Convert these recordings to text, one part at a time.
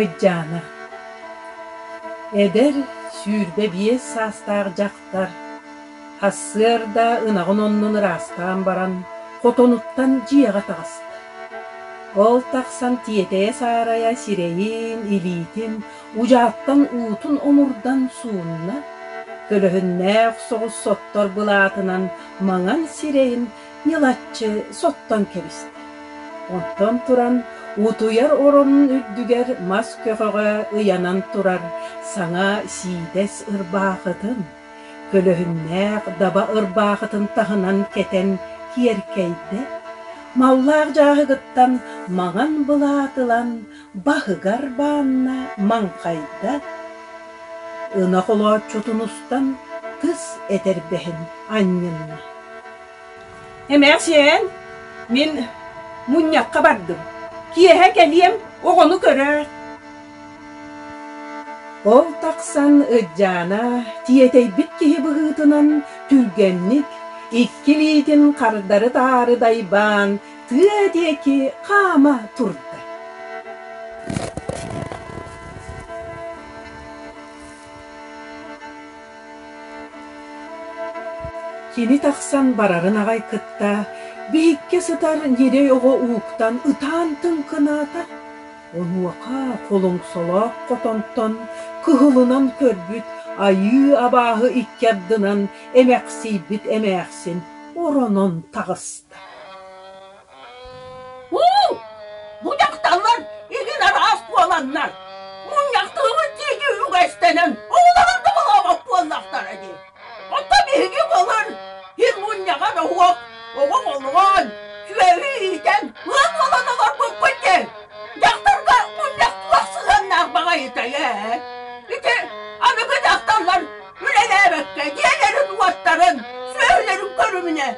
Ыйдьаана Эдэр, сүүрбэ биэс саастаах дьахтар сарсыарда ынаҕын оннун ыраастаан баран хотонуттан дьиэҕэ таҕыста. Ол тахсан тиэтэйэ-саарайа сирэйин, илиитин Удьааттан уутун омурдан суунна, көлөһүннээх соҕус соттор былаатынан маҥан сирэйин ньылаччы соттон кэбистэ. Оттон туран утуйар оронун үрдүгэр мас көҕөҕө ыйанан турар саҥа сиидэс ырбаахытын, көлөһүннээх даба ырбаахытын таһынан кэтэн киэркэйдэ, маллаах дьааһыгыттан маҥан былаат ылан баһыгар баанна маҥхайда, ынах олооччутун устан кыс этэрбэһин анньынна: «Эмээхсиэн, мин мунньахха бардым, киэһэ кэлиэм, оҕону көрөөт». Ол тахсан Ырдьаана тиэтэйбит киһи быһыытынан түргэнник икки илиитин хардары-таары дайбаан тыа диэки хаама турда кини тахсан барарын аҕай кытта биһиккэ сытар ньирэй оҕо ууктан ытаан тыҥкынаата онуоха холоҥсолоох хотонтон кыһылынан көрбүт айыы абааһы икки ардынан эмэхсийбит эмээхсин оронон таҕыста Бу дьахталлар игин араас буоланнар, мунньахтыыбын диэки үгэстэнэн, оҕолорун да булаабат буоллахтара дии. Оттон биһиги былыр ир мунньаҕар оһуох оҕо олоон, сүөһү иитэн, ыан буолан олорбуппут диэн, дьахтарга мунньах туох сыһыаннаах баҕайытай ээ? Ити аныгы дьахталлар үлэлээбэккэ дьиэлэрин уоттарын, сүөһүлэрин көрүмүнэ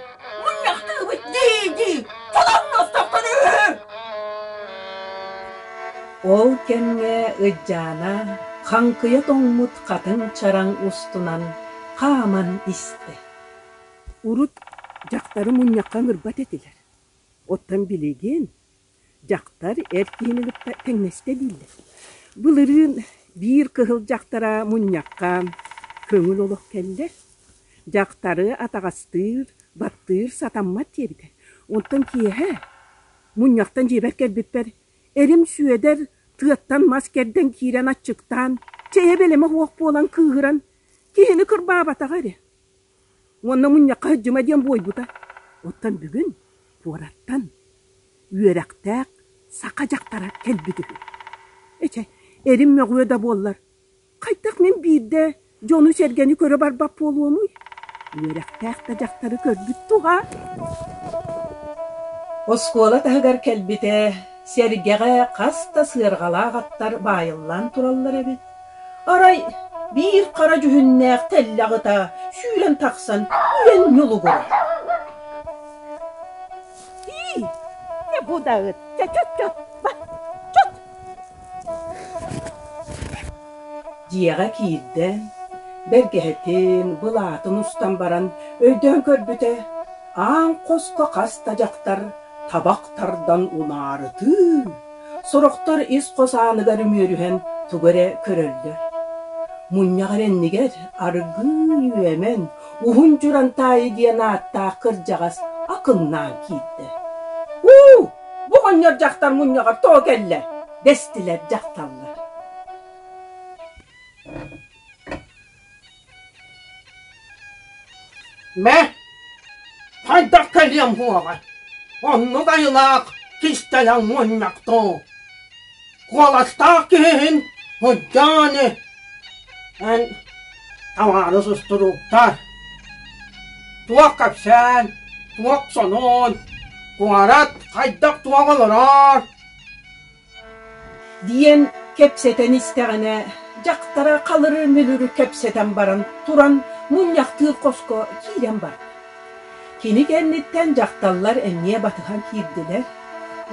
Мунньахтыыбыт дии-дии чолонностоххун үһү. Ол кэмҥэ Ыдьаана хаҥкыйа тоҥмут хатыҥ чараҥ устунан хааман истэ. Урут дьахтары мунньахха ыҥырбат этилэр. Оттон билигин Дьахтар эр киһини кытта тэҥнэстэ дииллэр. Былырыын биир кыһыл дьахтара мунньахха көҥүл олох кэллэ. Дьахтары атаҕастыыр, баттыыр сатаммат диэбитэ. Онтон киэһэ мунньахтан дьиэбэр кэлбиппэр эрим Сүөдэр тыаттан мас кэрдэн киирэн аччыктаан, чэйэ бэлэмэ суох буолан кыыһыран, киһини кырбаабатаҕа эрэ. Уонна мунньахха сылдьыма диэн буойбута. Оттон бүгүн пуораттан үөрэхтээх саха дьахтара кэлбит үһү. Эчэ, эрим мөҕүө да буоллар, хайдах мин биирдэ дьону-сэргэни көрө барбат буолуомуй? Үөрэхтээх да дьахтары көрбүт туга? Оскуола таһыгар кэлбитэ, сэргэҕэ хас да сыарҕалаах аттар баайыллан тураллар эбит. Арай биир хара дьүһүннээх тэллэх ыта сүүрэн тахсан үөн ньулугурар. «Ии, чэ бу даҕыт, чэ чот чот, бар, чот!» дьиэҕэ киирдэ, бэргэһэтин, былаатын устан баран өйдөөн көрбүтэ, аан хоско хас да дьахтар табах тардан унаарытыы Сорохтор ис-хос ааныгар үмүөрүһэн тугу эрэ көрөллөр. Мунньах эрэннигэр аргыый үөмэн, уһун дьуран таайы диэн ааттаах кырдьаҕас акыннаан киирдэ. «Уу, бу оҕонньор дьахтар мунньаҕар тоҕо кэллэ?» дэстилэр дьахталлар. Мэ, хайдах кэлиэм буоҕа? Оннук айылаах кистэлэҥ мунньах дуу? Куоластаах киһи иһин сылдьааны эн табаарыс устуруктар туох кэпсээн, туох сонун, куорат хайдах туох олорор диэн кэпсэтэн истэҕинэ дьахтара халыры мүлүрү кэпсэтэн баран туран мунньахтыыр хоско киирэн барда. Кини кэнниттэн дьахталлар эмиэ батыһан киирдилэр.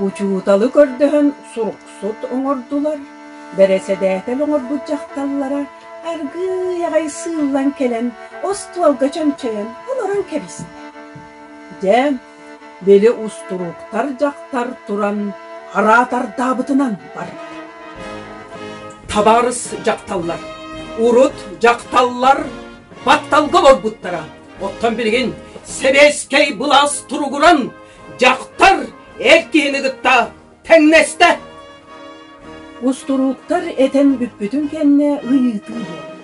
Учууталы көрдөһөн суруксут оҥордулар. Бэрэсэдээтэл оҥорбут дьахталлара аргыый аҕай сыыллан кэлэн остуолга чөмчөйөн олорон кэбистэ. Дьэ били устуруктар дьахтар туран хараатардаабытынан барда табаарыс дьахталлар урут дьахталлар батталга олорбуттара оттон билигин сэбиэскэй былаас туругуран дьахтар эр киһини кытта Тэҥнэстэ. Устурууктар этэн бүппүтүн кэннэ ыйытыы буолла.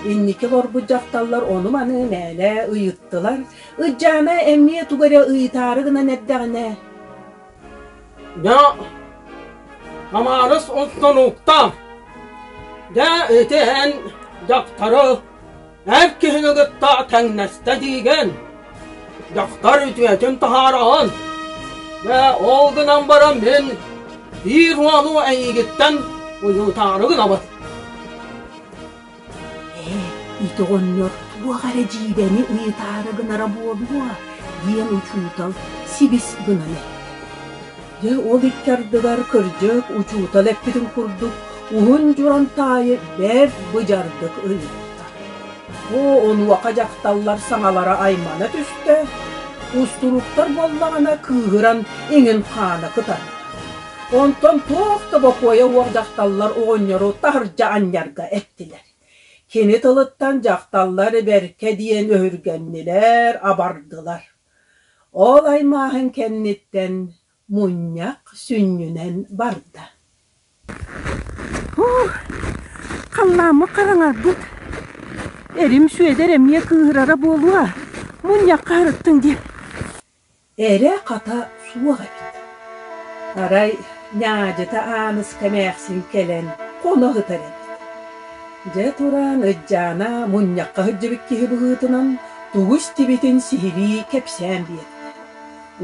Инники олорбут дьахталлар ону-маны мээнэ ыйыттылар. Ыччаана эмиэ тугу эрэ ыйытаары гынан эрдэҕинэ «Дьэ, Хамаарыс устунууктар, дьэ ити эн дьахтары эр киһини кытта тэҥнэстэ диигэн дьахтар үтүөтүн таһаараҕын бэ ол гынан баран мин биир уолу эйиигиттэн уйутаары гынабын ээ ити оҕонньор туох эрэ дьиибэни ыйытаары гынара буолуо диэн учуутал сибис гынан эттэ Дьэ ол икки ардыгар кырдьык учуутал эппитин курдук уһун Дьуронтаайы бэрт быдьардык ыйытта. Бу онуоха дьахталлар саҥалара аймана түстэ, устуруктар буоллаҕына кыыһыран иҥин хаана кытарда. Онтон туох да бокуойа уох дьахталлар оҕонньору таһырдьа анньарга эттилэр. Кини тылыттан дьахталлар бэркэ диэн өһүргэннилэр, абардылар. Ол аймааһын кэнниттэн мунньах сүнньүнэн барда Халлааммыт хараҥарбыт Эрим Сүөдэр эмиэ кыыһырара буолуо Мунньахха сырыттыҥ диэн Эрэ-хата суох эбит Арай Ньаадьыта Ааныска эмээхсин кэлэн хоно сытар эбит. Дьэ туран Ырдьаана мунньахха сылдьыбыт киһи быһыытынан тугу истибитин сиһилии кэпсээн биэрдэ.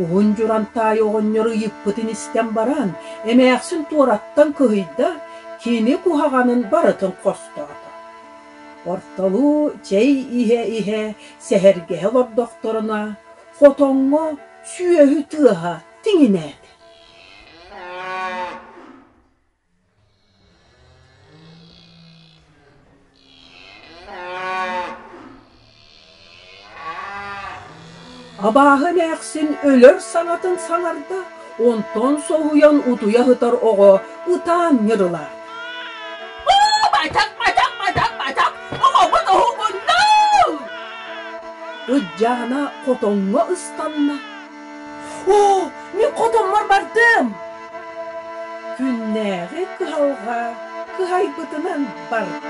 Уһун Дьурантаай оҕонньору ыйыппытын истэн баран, эмээхсин туораттан кыһыйда, кини куһаҕанын барытын хостоото. Ортолуу чэй иһэ-иһэ сэһэргэһэ олордохторуна Хотоҥҥо сүөһү тыаһа тиҥинээтэ. Абааһы эмээхсин өлөр саҥатын саҥарда Онтон соһуйан утуйа сытар оҕо ытаан ньырылар. Бачак, бачак, бачак, бачак! Оҕобут уһугунна! Ырдьаана хотоҥҥо ыстанна. Оо, мин хотоммор бардым! Күннээҕи кыһалҕа кыһайбытынан барда.